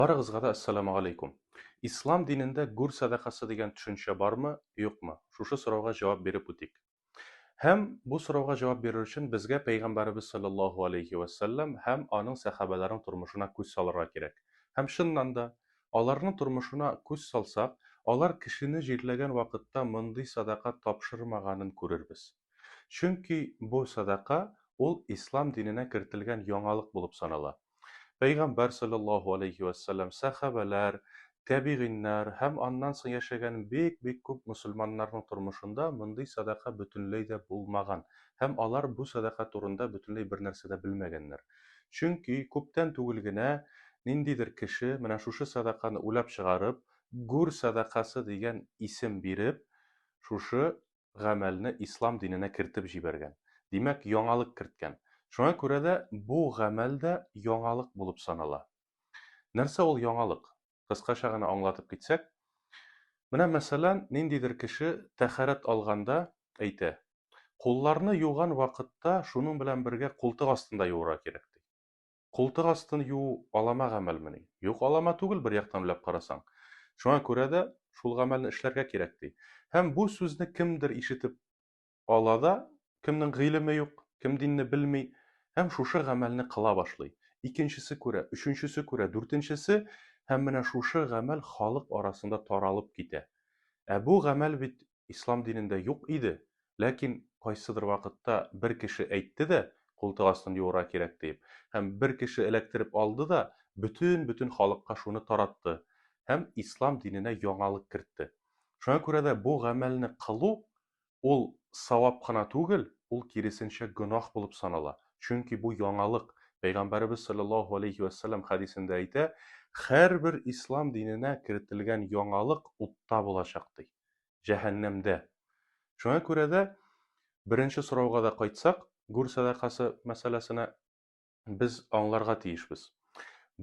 Барыгызга да Әссәламү алейкум! Ислам динендә гүр сәдакасы дигән төшенчә бармы, юкмы? Шушы сорауга җавап биреп үтик. Һәм бу сорауга җавап бирер өчен безгә Пәйгамбәребез салләллаһу алейһи вә сәлләм һәм аның сәхабәләренең тормышына күз салырга кирәк. Һәм чыннан да, аларның тормышына күз салсак, алар кешене җирләгән вакытта мондый сәдака тапшырмаганын күрербез. Чөнки бу садака ул ислам диненә кертелгән яңалык булып санала. Пәйгамбәр салләллаһу аләйһи вә сәлләм, сәхабәләр, тәбигыйннар һәм аннан соң яшәгән бик-бик күп мөселманнарның тормышында мондый садака бөтенләй дә булмаган һәм алар бу садака турында бөтенләй бернәрсә дә белмәгәннәр. Чөнки күптән түгел генә ниндидер кеше менә шушы садаканы уйлап чыгарып, гүр садакасы дигән исем биреп, шушы гамәлне ислам диненә кертеп җибәргән. Димәк, яңалык керткән. Шуңа күрә дә бу гамәл дә яңалык булып санала. Нәрсә ул яңалык? Кыскача гына аңлатып китсәк, менә мәсәлән, ниндидер кеше тәһарәт алганда әйтә, Кулларны юган вакытта шуның белән бергә култык астында юырга кирәк, ди. Култык астын юу алама гамәлмени? Юк, алама түгел, бер яктан уйлап карасаң. Шуңа күрә дә шул гамәлне эшләргә кирәк, ди. Һәм бу сүзне кемдер ишетеп ала да, кемнең гыйлеме юк, кем динне белми, һәм шушы гамәлне кыла башлый. Икенчесе күрә, өченчесе күрә, дүртенчесе, һәм менә шушы гамәл халык арасында таралып китә. Ә бу гамәл бит ислам динендә юк иде, ләкин кайсыдыр вакытта бер кеше әйтте дә, култык астын юырга кирәк диеп, һәм бер кеше эләктереп алды да, бөтен-бөтен халыкка шуны таратты һәм ислам диненә яңалык кертте. Шуңа күрә дә бу гамәлне кылу, ул савап кына түгел, ул киресенчә гөнаһ булып санала, чөнки бу яңалык. Пәйгамбәребез салләллаһу галәйһи вә сәлләм хәдисендә әйтә, Һәрбер ислам диненә кертелгән яңалык утта булачак, ди. җәһәннәмдә. Шуңа күрә дә, беренче сорауга да кайтсак, гүр сәдакасы мәсьәләсенә, без аңларга тиешбез.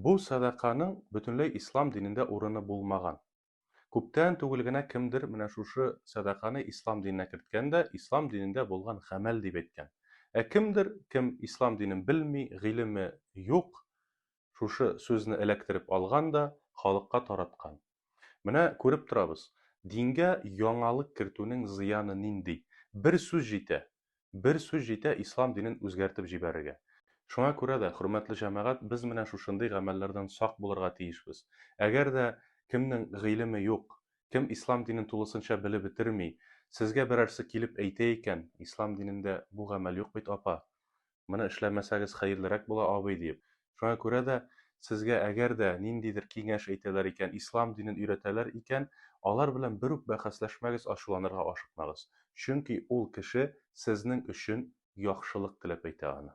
Бу сәдаканың бөтенләй ислам динендә урыны булмаган. Күптән түгел генә кемдер менә шушы сәдаканы ислам диненә керткән дә, ислам динендә булган гамәл дип әйткән. Ә кемдер, кем ислам динен белми, гыйлеме юк, шушы сүзне эләктереп алган да халыкка тараткан. Менә күреп торабыз, дингә яңалык кертүнең зыяны нинди. Бер сүз җитә, бер сүз җитә ислам динен үзгәртеп җибәрергә. Шуңа күрә дә, хөрмәтле җәмәгать, без менә шушындый гамәлләрдән сак булырга тиешбез. Әгәр дә кемнең гыйлеме юк, кем ислам динен тулысынча белеп бетерми, сезгә берәрсе килеп әйтә икән, ислам динендә бу гамәл юк бит, апа, моны эшләмәсәгез хәерлерәк була, абый, диеп. Шуңа күрә дә, сезгә әгәр дә ниндидер киңәш әйтәләр икән, ислам динен өйрәтәләр икән, алар белән бер үк бәхәсләшмәгез, ачуланырга ашыкмагыз. Чөнки ул кеше сезнең өчен яхшылык теләп әйтә аны.